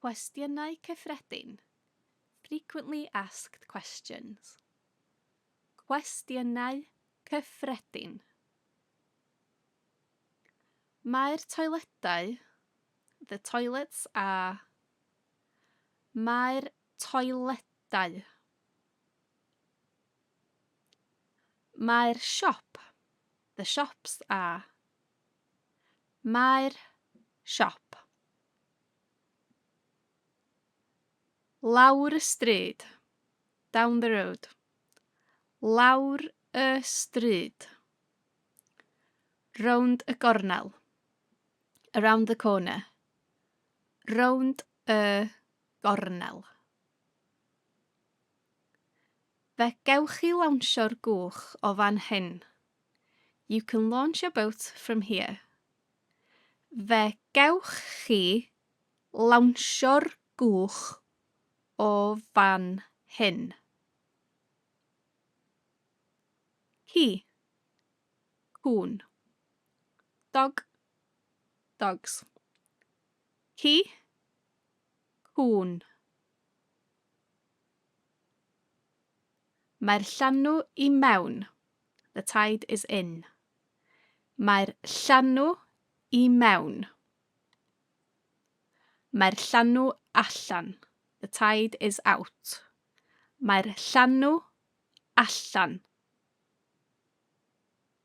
Cwestiynau Cyffredin, Frequently Asked Questions. Cwestiynau Cyffredin. Mae'r toiledau, the toilets are, mae'r toiledau. Mae'r siop, the shops are, Mae'r siop lawr y stryd, down the road. Lawr y stryd, round y gornel, around the corner. Round y gornel. Fe gewch chi lawnsio'r gwch o fan hyn. You can launch your boat from here. Fe gewch chi lawnsio'r gwch o fan hyn. He. Cwn. Dog. Dogs. He. Cwn. Mae'r llanw i mewn. The tide is in. Mae'r llanw i mewn. Mae'r llanw allan. The tide is out. Mae'r llanw allan.